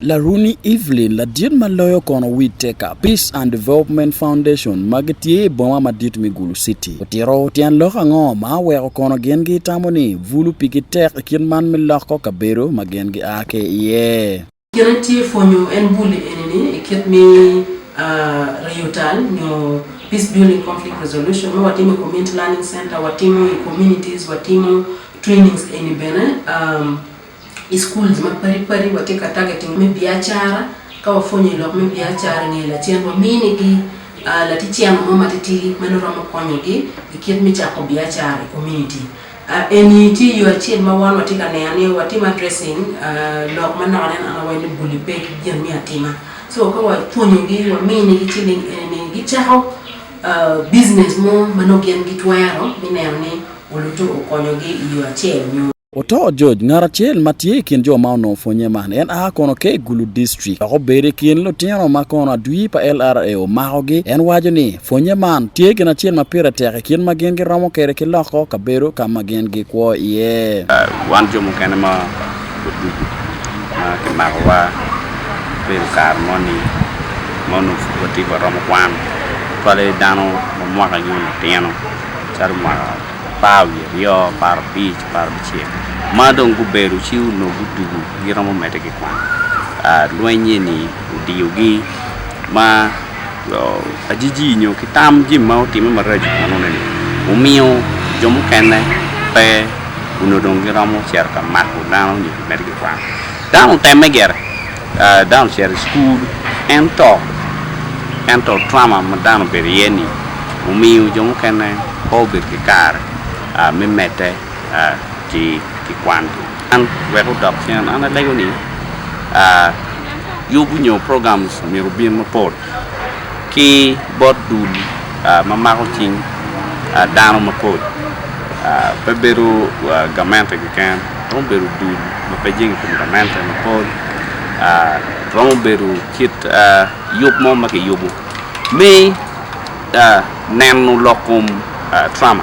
Laruni Evelyn ladit ma loyo kono Whittaker Peace and Development Foundation ma gitye i boma madit me Gulu City otito tyen lok ango ma oweko kono gin gitamo ni bulu pigi tek i kit man me loko kabedo ma gin gia ki iye? Kit en tye pwonyo en buli eni ni i kit me riyo tal nyo Peace Building Conflict Resolution ma watimo i Community Learning Center, watimo i Communities, watimo trainings eni bene. i schools ma padi padi watye ka targeting me biacara ka wapwonyo i lok me biacara nge lacen wamini gi laticeno mo matidi ma nongo romo konyo gi i kit me cako biacara i community eni tye yo acel ma wan watye ka neno ni watimo addressing lok ma nongo aneno an awaco ni buli pe ki gin me atima so ka wapwonyo gi wamini gi ciling eni ni gi cako business mo ma nongo gin gitwero me neno ni olute okonyo gi i yo acel nyo Oto George, ngat acel ma tye i kin jo ma onongo pwonye man. En a kono ki i Gulu District, dok obedo i kin lutino ma kono adwir pa LRA omakogi. En waco ni, Pwonye man tye gin acel ma pire tek i kit ma gin giromo kwede ki loko kabedo ka ma gin gikwo iye. Wan jo mukene ma odwogo ma kimakowa, obedo kare moni ma onongo pud watye ka romo kwan, cwale dano ma mwakagi onongo tino, calo mwaka apar wiye aryo, apar abic, apar abicel ma dong gubedo ci onongo gudugo giromo medde ki kwan lweny eni odiyogi ma ajiji nyo ki tam jami ma otimme maraco i kwonone ni omiyo jo mukene pe onongo dong giromo cito ka mako dano nyo ki medo ki kwano dano otemme gire Dano ocito i cukul en to, ento trauma ma dano obedo iye-ni omiyo jo mukene pe gubedo ki kare me medde ki kwangi. An wek odok cen, an alego ni yubu nyo programs myero obin mapol ki bot dul ma mako cing dano mapol pe bedo gamente keken romo bedo dul ma pe jenge i kom gamente mapol romo bedo kit yub mo ma kiyubo me neno lok kom Trump.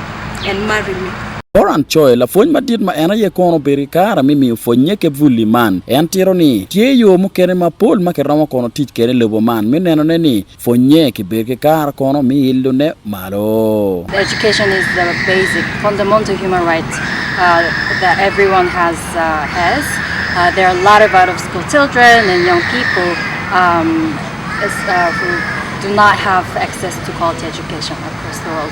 and marry me. Oran Choi, lapwony madit ma en aye kono obedo ki kare me miyo pwonye kebuli man. En tito ni, Tye yo mukene mapol ma kiromo kono tic kwede i lobo man me nenone ni pwonye kibedo ki kare kono me ilone malo. Education is the basic, fundamental human right that everyone has has. There are a lot of out of school children and young people who do not have access to quality education across the world.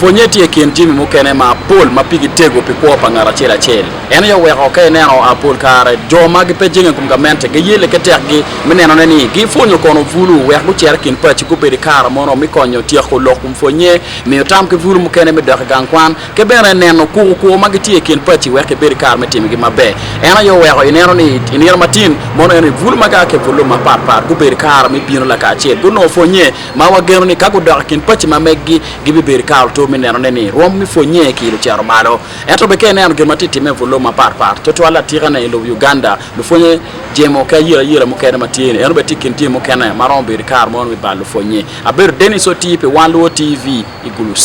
Pwonnye tye i kin jami mukene mapol ma pigi tego pi kwo pa ngat acel acel. En aye oweko ka ineno pol kare jo ma gipe jenge i kom gamente giye leke tekgi me nenone ni gipwonyo kono bulu wek gucer i kin paci gubedo i kare mono me konyo tyeko lok kun pwonnye miyo tam ki bulu mukene me dok i gang kwan. Ki bene, neno kuku kwo ma gitye i kin paci weko ibed ki kare me timo gin maber. En aye oweko ineno ni i nino matin mono en ni bul ma gia ki i bul lum mapat pat gubedo i kare me bino lakacel. Gunongo pwonnye ma wageno ni ka gudok i kin paci ma megi, gibibedo ki kare otur me nenone ni rwom me pwonnye ki lucito malo. Ento bene ka ineno gin ma tye ka timme i bul lum mapat pat, tutwal atikane i lobo Uganda, lupwonnye jemo ki ayerayera mukene ma tye-ni, eno bene tye i kin jami mukene ma romo bedo i kare mono me bal lupwonnye. Abedo Dennis Otii pi Wan Luo TV i Gulu City.